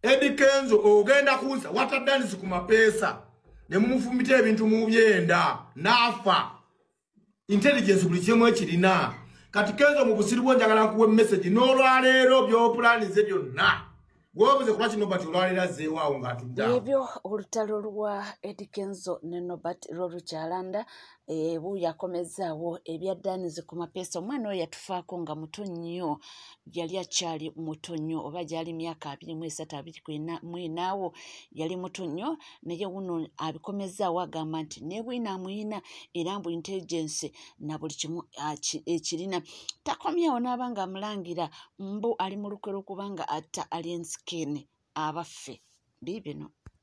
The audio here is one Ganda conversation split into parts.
Eddie Kenzo ogenda kuuza wata dance ku mapeesa ne mumufumita ebintu mu byenda nafa intelligence buli kimu ekirina kati Kenzo mu busiru bwo njagala kuwe message no lwa leero byo plan ze byonna wobuze kuba kino bati olwalera zeewaawo ng'atudda ebyo olutalo lwa Eddie Kenzo ne Nobert Rolukyalanda ebu yakomezaawo ebya danizi ku mapeesa omwana oyo yatufaako nga muto nnyo yali akyali muto nnyo oba gyali myaka abiri mu esatu abiri mwinaawo yali muto nnyo naye wuno abikomezaawo agamba nti nebwina amuyina era mbu intelligence na buli kimu ekirina takomyawo n'aba nga amulangira mbu ali mu lukwe lwokubanga atta alien skin abaffe biibino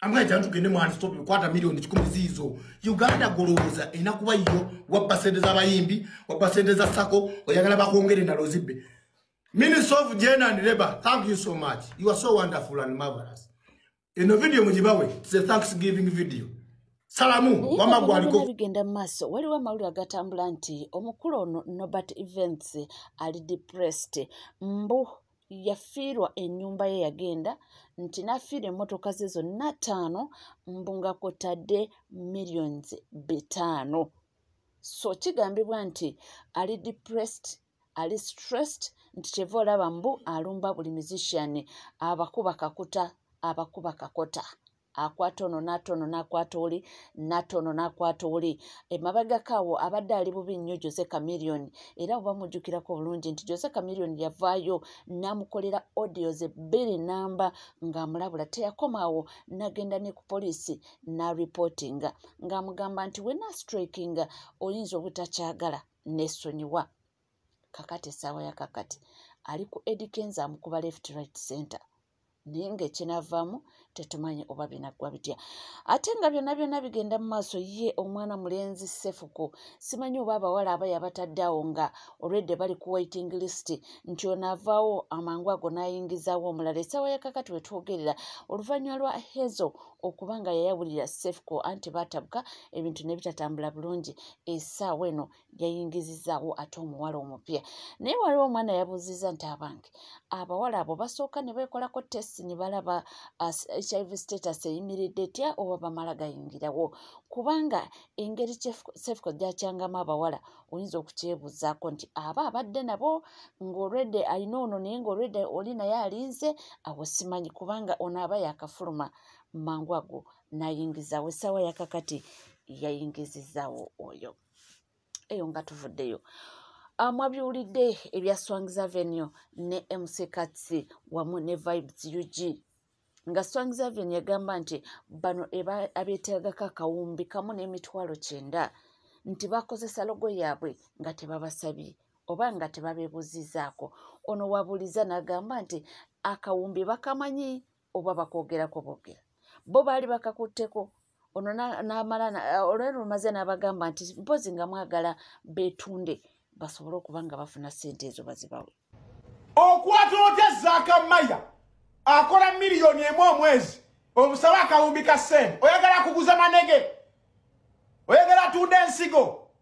amwaja tugende mu anstop kwata milioni kikumi zizo uganda goloza enakuba iyo wa percent za bayimbi wa percent za sako oyagala bakongere na lozibe minister of gen and labor thank you so much you are so wonderful and marvelous in the video mujibawe it's a thanksgiving video salamu wama gwaliko bigenda maso waliwo amawulire agatambula nti omukulu ono nobert events ali depressed mbu yafiirwa ennyumba ye yagenda nti nafiirwa emmotoka ze zonna ttaano mbu nga kwotadde millions bitaano so kigambibwa nti ali depressed ali stressed nti kyeva olaba mbu alumba buli musician abakuba kakuta abakuba kakota akwata ono naata ono nakwata oli naata ono nakwata oli emabagako awo abadde ali bubi nnyo jose camilion era oba mujjukirako bulungi nti jose camilion yavaayo namukolera audios ebbiri namba ng'amulabula teyakoma awo nagenda ne ku poliisi naripotinga ng'amugamba nti wena strikinga oyinza obutakyagala nesonyiwa kakati esaawa ya kakati ali ku edikenza amukuba left right center naye ngaekinavaamu tetumanyi oba binaggwa bitya ate nga byonna byonna bigenda mu maaso ye omwana mulenzi sefuko simanyi oba abawala abaya batadde awo nga olwedde bali ku waiting list nti ono avaawo amangu ago n'ayingizaawo omulala essaawa ya kakati we twogerera oluvannyuma lwa hezo okuba nga yayawulira sefuko anti baatabuka ebintu ne bitatambula bulungi essaawa eno yayingizizaawo ate omuwala omupya naye waliwo omwana yabuuziza nti abange abawala abo basooka ne beekolako testi ne balaba hiv status eyimiridde etya oba bamala gayingirawo kubanga engeri sefco gyakyangamu abawala oyinza okukyebuuzaako nti aba abadde nabo ng'olwedde alina ono naye ng'olwedde oli naye alinze awo simanyi kubanga ono aba yakafuluma mangu ago nayingizawo essaawa yakakati yayingizizawo oyo eyo nga tuvuddeyo ah, mwabiwulidde ebya swangs avenue ne mc katsi wamu ne vibes ug nga swangs avenue yagamba nti bano abeetagako akawumbi kamu n'emitwalo kyenda nti bakozesa logo yaabwe nga tebabasabye oba nga tebabeebuzizaako ono wabuliza n'agamba nti akawumbi bakamanyi oba bakwogerako bogera bo baali bakakutteko ono namala olwero lumaze n'abagamba nti mpozi nga mwagala betunde basobole okuba nga bafuna sente ezo bazibawe okwata otya zakamaya akola miliyoni emu omwezi omusaba akawumbi ka sente oyagala kuguza manege oyagala tunda ensigo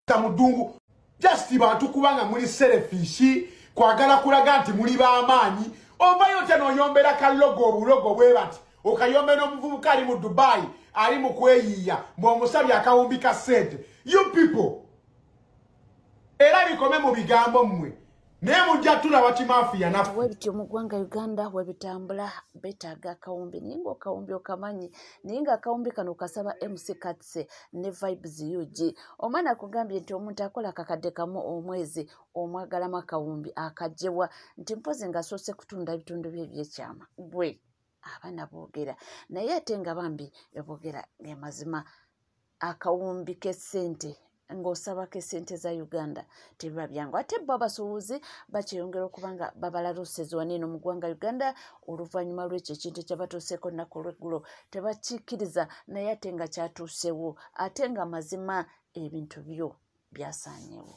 kutta mu ddungu just bantu kubanga muli serefishi kwagala kulaga nti muli b'amaanyi ovayo tya noyombera kalogo obulogo bwe bati okayombera omuvubuka ali mu dubai ali mu kweyiiya mweomusabye akawumbi ka sente you people era bikome mu bigambo mmwe naye mujja tulaba kimafiya naffe webityo mu ggwanga uganda webitambula betaaga akawumbi naye nga okawumbi okamanyi naye nga akawumbi kano kasaba mc katse ne vibes ug omwana akugambye nti omuntu akola kakadde kamu omwezi omwagalamu akawumbi akajjebwa nti mpozi ngasoose kutunda ebitundu bye ebyekyama gwe abaana boogera naye ate nga bambi eboogera gemazima akawumbi k'essente ng'osabako essente za uganda tebiba byangu ate bo abasuubuzi bakyeyongera okuba nga babalaluusezi waneeno mu ggwanga uganda oluvannyuma lw'ekyo ekintu ekyabatuuseeko nnaku olweggulo tebakikkiriza naye ate nga kyatuusewo ate nga mazima ebintu byo byasaanyewo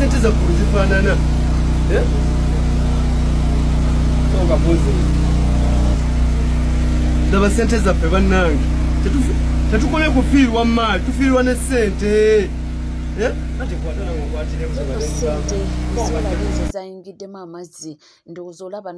sente zaggulu zifaanana ndaba sente zaffe bannange tetukole kufiirwa maali tufiirwa ne sente sente zona lizo zaingiddemu amazzi ndowooza olaba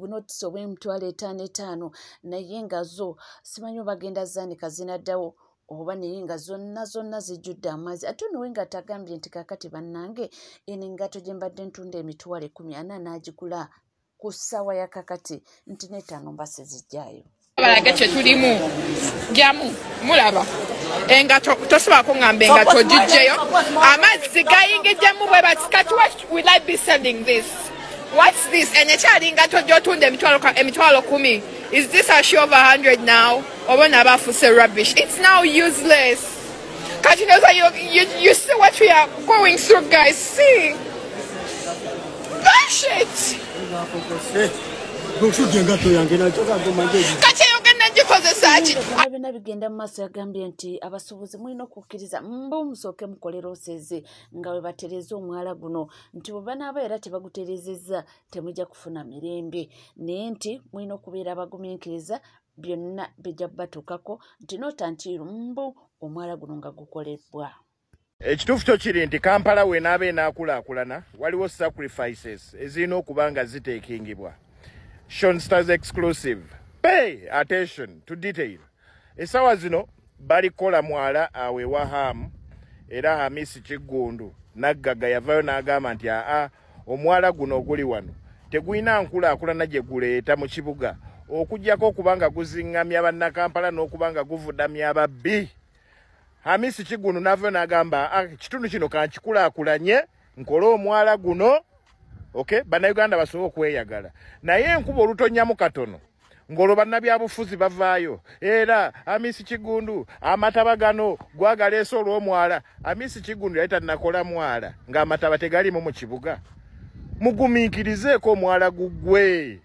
bunotisi obw'emitwalo etaano etaano naye nga zo simanyi obagenda zaanika zinaddawo oba naye nga zonna zonna zijjudde amazzi ate onowe nga tagambye nti kakati bannange eno engato gye mbadde ntunda emitwalo ekumi ana n'agigula ku ssaawa ya kakati nti neetaano mba sizijjaayo balage kyetulimu jamu mulaba enga tosobola kungamba enga togijjeyo amazzi gayingijjemu bwe batikati will i be sending this whats this enyo ekyalinga tojotunda emitwalo kumi is this a show of 100 now oba nabaafuse rubbish its now useless Kati noza you, you, you see what we are going through guys. See. Gosh it. Kati byonna bigenda mu maaso yagambye nti abasuubuzi mulina okukkiriza mba omusooke mukolera oseze nga bwe batereeza omwala guno nti bwe banaaba era tebagutereezezza temujja kufuna mirembe naye nti mulina okubeera abagumiikiriza byonna bijja batuukako nti notantiiru mbu omwala guno nga gukolebbwa ekituufu kyo kiri nti kampala wenaaba enaakulaakulana waliwo sacrifices ezirina okuba nga ziteekingibwa shonstars exclusive pay attention to detail essaawa zino bali kukola mwala awo ewa haamu era hamisi kiggundu naggaga yavayo n'agamba nti aa omwala guno oguli wano tegulina nkulaakulana gye guleeta mu kibuga okugyako okuba nga guziŋŋamya bannakampala n'okuba nga guvudamya ababbi hamisi kigunu navayo n'agamba ah, ekitundu kino kankikulaakulanye nkole omwala guno okay bannayuganda basobole okweyagala naye enkuba olutonyamu katono ng'olwo bannabyabufuzi bavaayo era amisi kigundu amataba gano gwagaleese olw'omwala amisi kigundu yali tanakola mwala ng'amataba tegalimu mu kibuga mugumiikirizeeko omwala guggwe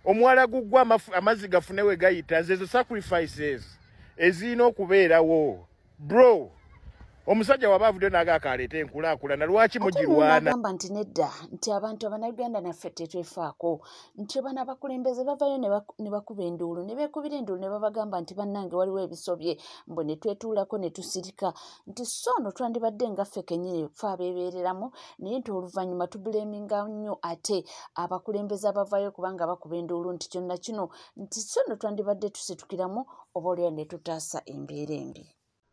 omwala guggwe amazzi gafune we gayita zezo sacrifices ezirina okubeerawo bro omusajja waba avudde naga akaleeta enkulakulana lwaki mugirwanagamba nti nedda nti abantu abanayuganda naffe tetwefaako nti bana abakulembeze bavayo ne bakuba enduulu ne beekubira enduulu ne babagamba nti bannange waliwo ebisobye mbu ne twetuulako ne tusirika nti so no twandibadde nga ffe kenyini fe abeebeereramu naye nti oluvannyuma tubuleeminga nnyo ate abakulembeze abavayo kubanga bakuba enduulu nti kyonna kino nti so no twandibadde tusitukiramu oba olwera ne tutaasa embeera embi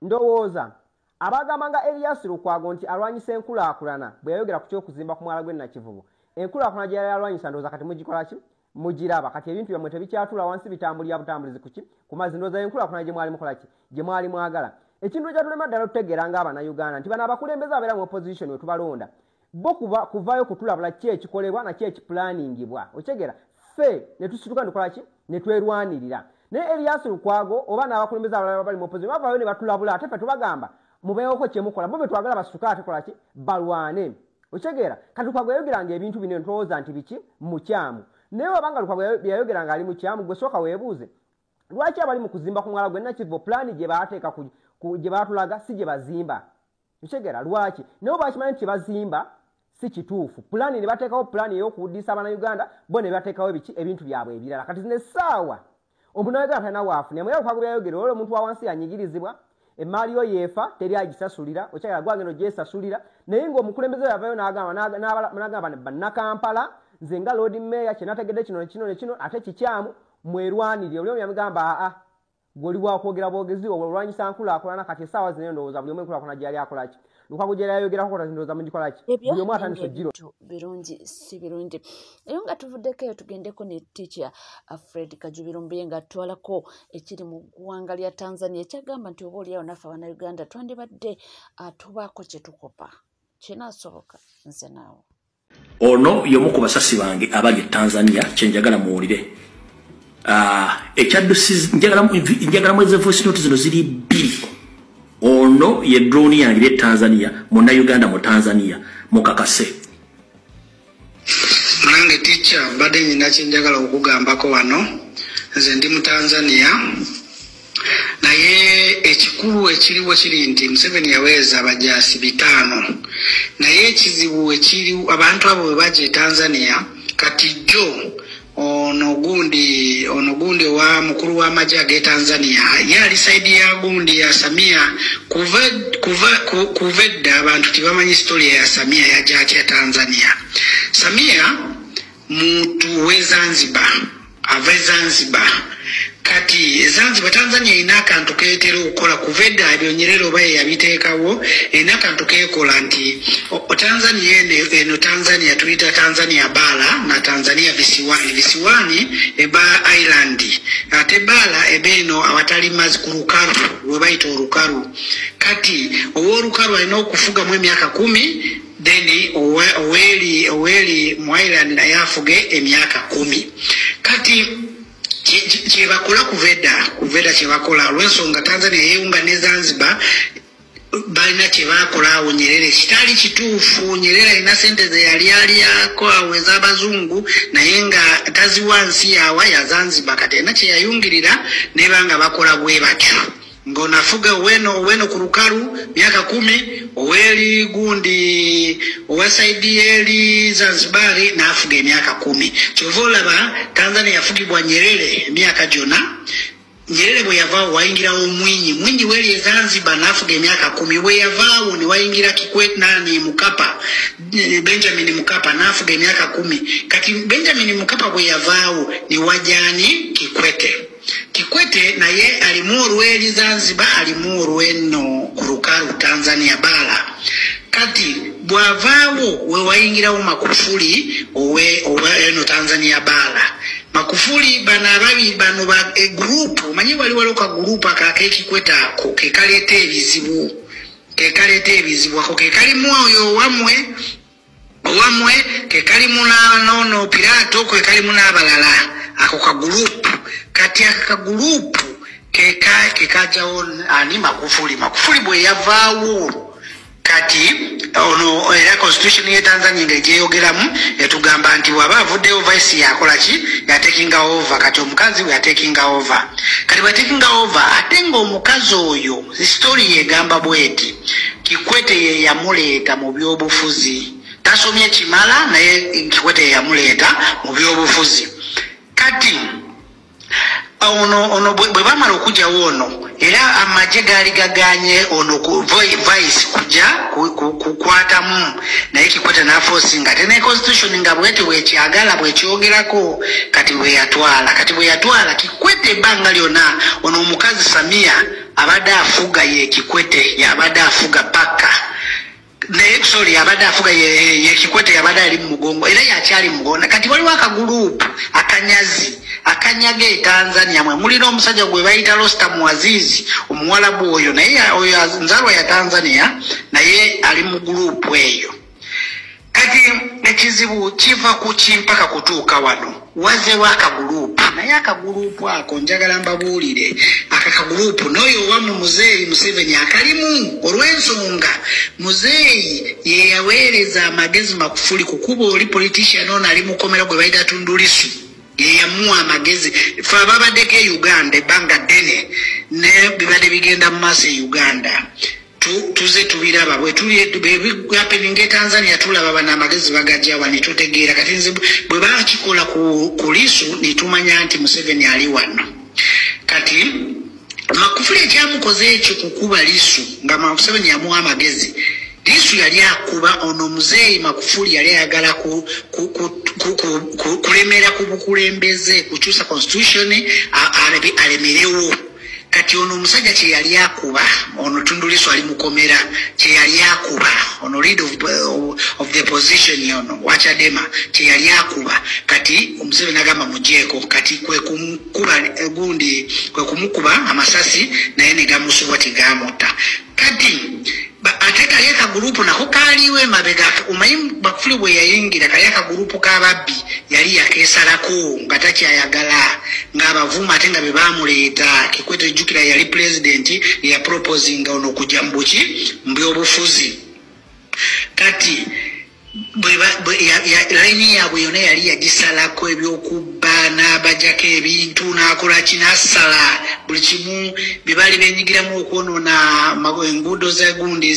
ndowooza abagamba nga eriyasi lukwago nti alwanyisa enkulaakulana bwe yayogera ku ky'okuzimba ku mwala gw'e nakivubo enkulaakulana gye yali alwanyisa ndowooza kati mugikola ki mugiraba kati ebintu byammwe tebikyatula wansi bitambulira butambulizi kuki ku mazzi ndowooza enkulaakulana gye mwali mukola ki gye mwali mwagala ekintu ekyatulema ddala tutegeera nga abanauganda nti bano abakulembeze abeera mu opposition we tubalonda bo kuba kuvaayo kutulabula ki ekikolebwa naki ekipulaaningibwa okitegera ffe ne tusituka ne tukola ki ne twerwanirira naye eliyasi lukwago oba n'abakulembeze abalala bali mu opozi bavaayo ne batulabula ate ffe tubagamba mubeewoko kye mukola bo be twagala basituke ate kola ki balwane okitegeera kati lukwago yayogeranga ebintu bino ntowooza nti biki mukyamu naye wabanga lukwago yayogeranga ali mukyamu gwe sooka weebuuze lwaki abali mu kuzimba ku mwala gwe nakivo pulaani gye baateeka gye baatulaga si gye bazimba nkitegera lwaki naye oba akimanyi nti kyebazimba si kituufu pulaani ne bateekawo pulaani ey'okuwuddisa abana uganda bo ne bateekawo ebiki ebintu byabwe ebirala kati zino essaawa omunayuganda talina waafuna emwe yakukago byayogera olwola omuntu wa wansi yanyigirizibwa emmaali yo yeefa teri agisasulira okyagala gwagenda ogyesasulira naye ng'omukulembeze we yavayo nagamba bannakampala nze nga loodi meeya kyenategedde kino nekino nekino ate kikyamu mwerwanirire oli omu yamugamba aa gwe oli wakwogera bwogezi obwo olwanyisa nkulaakulana kati esaawa zino endowooza buli omu enkulaakulana gyeyali akolaki lukago gyeyali ayogerako kota ndowooza mugikolaki buli omu atandisa ojiro birungi si birungi eyo nga tuvuddeko eyo tugendeko ne ticha uh, fred kajubiro mbuye nga atwalako ekiri mu ggwanga lya tanzania ekyagamba nti oba oliawo naffe abana uganda twandibadde uh, tubaako kyetukopa kinasoboka nze naawe ono yomu ku basasi bange abali e tanzania kyenjagala muwulire ah, ekyaddusnjagalamu ezevoisinoti zino ziri bbiri ono ye droni yange e tanzania muna uganda mu tanzania mukakase nange ticca mbadde nyina kyenjagala okugambako wano nze ndi mu tanzania naye ekikulu ekiriwo kiri nti museveni yaweereza abajaasi bitaano naye ekizibu ekiri abantu abo bwe baja e tanzania kati jjo ono gundi ono gundi wa mukulu w'amagye ag'e tanzania ye ali saidi ya gundi ya samia kuva kuva kuva edda abantu tebamanyi sitoria ya samia yaja atya tanzania samia muntu w'ezanzibar ava e zanzibar kati e zanzibar tanzania erina akantu ketera okukola kuva edda byonyerera oba yeyabiteekawo erina akantu kekola nti tanzania eno eno tanzania tuyita tanzania baala na tanzania visiwani visiwani eba island ate baala eba eno awatali mazi ku lukalu lwebayita olukalu kati owolukalu alina okufugamu emyaka kumi then oweli oweli mwailand naye afuge emyaka kumi kati kyebakola kuveda kuveda kyebakola olwensonga tanzania yeyunga ne zanzibar balina kyebakola awo nyerere kitali kituufu nyerere alina sente zeyalyaliyako awo ezabazungu naye nga taziwa nsi yawa yazanzibar kati alina kyeyayungirira nebanga bakola bwebatyo Ngonafuga weno weno ku lukalu myaka kumi oweli gundi owasaidi yeli Zanzibari nafuga emyaka kumi kyova olaba Tanzania yafugibwa Nyerere emyaka gyona Nyerere bwe yavaawo wayingirawo Mwinyi Mwinyi weli e Zanzibar nafuga emyaka kumi bwe yavaawo ne wayingira Kikwete nani Mukapa Benjamin Mukapa nafuga emyaka kumi kati Benjamin Mukapa bwe yavaawo ne wajani Kikwete Kikwete naye alimu olw'eri Zanzibar alimu olw'enno ku lukalu Tanzania baala kati bw'avaawo we wayingirawo Makufuli owe owe eno Tanzania baala Makufuli bano ababi bano ba e gurupu omanyi wali waliwo ka gurupu ako ak'ekikwete ako ke kaleeta ebizibu ke kaleeta ebizibu ako ke kalimu oyo owamwe owamwe kekali munanono piraato kwe kali munabalala ako kagurupu kati ako kagurupu keka kekajawo ani makufuli makufuli bwe yavaawo kati ono era constitution ye tanzania nga egyeyogeramu etugamba nti waba avuddeyo vice yakola ki yatekinga over kati omukazi we yatekinga over kati bwetekinga over ate nga omukazi oyo Story yegamba bweti Kikwete ye yamuleeta mu byobufuzi tasomye kimala naye Kikwete ye yamuleeta mu byobufuzi kati ono ono bwe bamala okujawo ono era amagye gaali gaganye ono vice kuja kukwatamu naye Kikwete nafosinga ate ne constitution nga bweti bwekyagala bwekyogerako kati bweyatwala kati bweyatwala Kikwete ebbanga lyona ono omukazi Samia abadde afuga yekikwete yabadde afuga paka naye sorry abadde afuga yekikwete yabadde ali mumugongo era yakyali mugonda kati waliwo akagulupu akanyazi akanyaga etanzania mwe mulina omusajja gwe bayita losta muazizi omuwalabu oyo naye nzalwa ya tanzania naye ali mugulupu eyo kati ekizibu kiva ku kimpaka kutuuka wano wazewo akaguluupu naye akaguluupu ako njagala mbabuulire aka kaguluupu n'oyo owamu muzeeyi museveni akalimu olw'ensonga muzeeyi yeyaweereza amagezi makufuli kukuba oli politician ono ali mukomera gwe baita tundulisu yeyamuwa amagezi fe ababaddeko e uganda ebbanga ddene ne bibadde bigenda mu maaso e uganda tuze tubiraba bwetuli happening e tanzania tulaba bana amagezi bagajawa netutegeera kati nze bwe bakikola ku lisu netumanya nti museveni ali wano kati makufuli ekyamukoze ekyo kukuba lisu nga museveni yamuwa amagezi lisu yali akuba ono muzeeyi makufuli yali ayagala kulemera ku bukulembeze kukyusa constitution alemerewo kati ono omusajja kyeyali akuba ono tunduliso ali mukomera kyeyali akuba ono lead of, of the position ono wachadema kyeyali akuba kati omuseveni agamba mujeeko kati kwekumukuba gundi kwekumukuba amasasi naye negamusubwa tigamutta kati ate kali akagurupu nako kaaliwo emabega omanyi bakufuli bwe yayingira kali akagurupu k'ababbi yali yakeesalako nga takyayagala ng'abavuma ate nga be baamuleeta kikwete jjukira yali pulezidenti eyaproposinga ono okujja mu buki mu byobufuzi kati layini yaabwe yona yali yagisalako ebyokubba n'abajako ebintu n'akola kinasala buli kimu byebaali benyigiramu okwonoona enguudo zegundi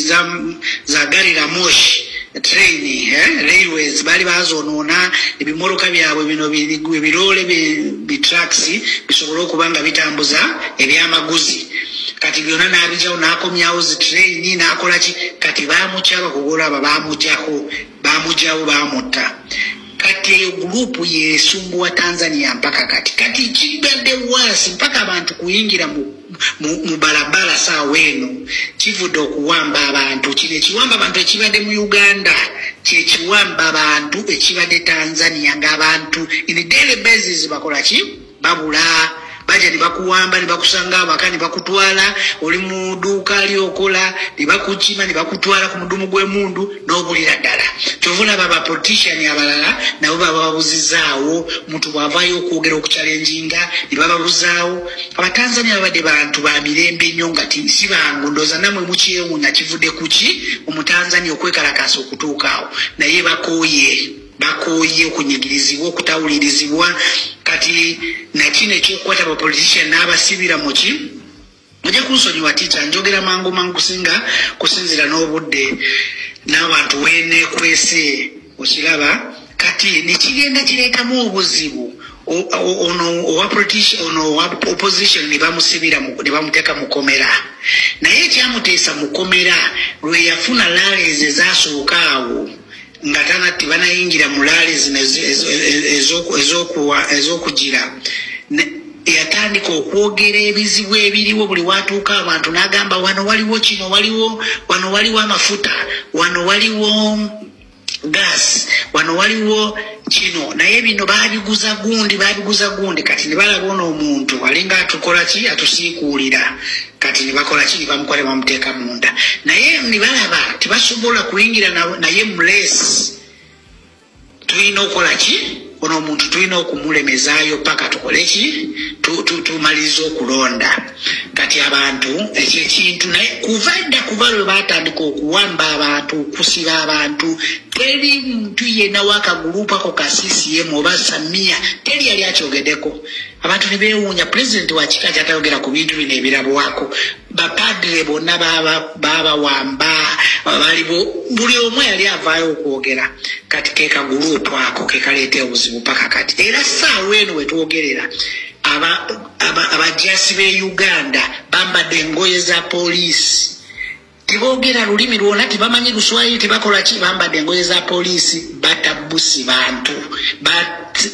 za gari la moshi train eh, railways baali bazonoona ebimoroka byabwe bino ebiroole bitraks bisobole okuba nga bitambuza ebyamaguzi kati byona nabijawo nakomyawo zitraini nakolaki kati bamukya bakugolo aba bamujako bamujawo bamutta kati eyo gurupu yesumbuwa tanzania mpaka kati kati kibadde wasi mpaka abantu kuyingira mu mubalabala saawa eno kivudde okuwamba abantu kino ekiwamba abantu ekibadde mu uganda kyekiwamba abantu ekibadde tanzania ngaabantu in daily basis bakolaki babula baja nebakuwamba nebakusanga awaka nebakutwala oli mu duuka ali okola nebakukima nebakutwala ku mudumu gw'emundu n'obulira ddala kyovuna baba politician abalala nabo bababuzizaawo muntu bwavayo okwogera okukyalenjinga nebababuzaawo abatanzania babadde bantu ba mirembe nnyo nga si bangu ndooza namwe mukyewunya kivudde kuki omutanzania okwekalakaasa okutuukaawo naye bakooye bakooye okunyigirizibwa okutawulirizibwa kati nakino ekyokukwata bapolitician n'abasibira muki mujja kunsonyiwa tiica njogera mangu mangu kusinga kusinzira n'obudde n'abantu wenekwese okiraba kati nekigenda kireetamu obuzibu ono owa politician ono owa opposition ne bamusibira ne bamuteeka mu komera naye ekyamuteesa mu komera lwe yafuna laleeze zasooka awo nga tana tebanayingira mu laale zino ez'okugira yatandika okwogera ebizibu ebiriwo buli watuuka abantu n'agamba wano waliwo kino waliwo wano waliwo amafuta wano waliwo gas wano waliwo kino naye bino babiguza gundi babiguza gundi kati ne balaba ono omuntu alinga atukola ki atusiikuulira kati nebakola ki nebamukola nebamuteeka munda naye nebalaba tebasobola kuyingira naye mulesi tulina okukola ki ono omuntu tulina okumulemezaayo paka tukole ki tumaliriza okulonda kati abantu ekyo ekintu naye kuva dda kuba lwe batandika okuwamba abantu okusiba abantu teri muntu yenawo akagulupu ako ka ccm oba samiya teri yali akyogedeko abantu ne beewuunya pulezidenti wa kika kyatayogera ku bintu bino ebirabwako bapadre bonna baabawamba balibo buli omu yali avaayo okwogera kati kekaguruupu ako kekaleeta obuzibu paka kati era saawa eno wetwogerera abajasi be uganda bambadde engoye za poliisi tebogera lulimi lwona tebamanyi luswayiri tebakola ki bambadde engoye za poliisi batabusi bantu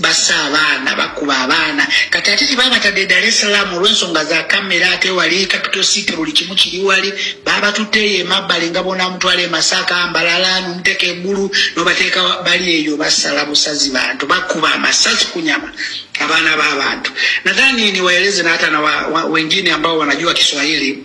basa abaana bakuba abaana kati ate tebabatadde dar es salaam olwensonga za kamera ate wali capital city buli kimu kiri wali babatutte eyo emabbali nga bona mutwala emasaka mbalala nomuteeka eggulu nobateeka bali eyo basala busazi bantu bakuba amasasi ku nyama abaana b'abantu nadhani niwaeleze na hata na wengine ambao wanajua kiswahili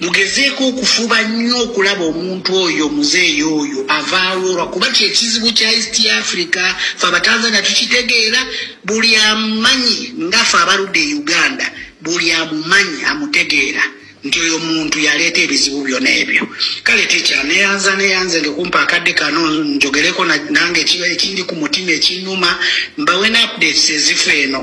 mugezeeko okufuba nnyo okulaba omuntu oyo muzeeyi oyo avaawo lwakuba kyekizibu kya east africa fe abatanzania tukitegeera buli amumanyi nga fe abaludde e uganda buli amumanyi amutegeera nti oyo muntu yaleeta ebizibu byona ebyo kale tikya neyanza neyanze ngekumpa akadde kano njogereko nange ekindi ku mutima ekinuma mbawe ne updates ezifa eno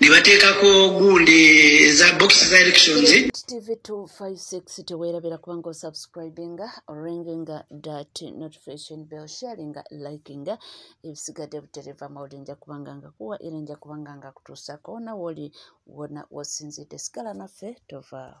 ne bateekako gundi eza bokisi za elections tv 256 teweerabira kubanga osubscribinga oringinga dat notification bell sharinga likinga ebisigadde butereva mawuli nja kubanga nga kuwa era nja kubanga nga kutuusako nawoli wona wosinzidde sigala naffe tovaawo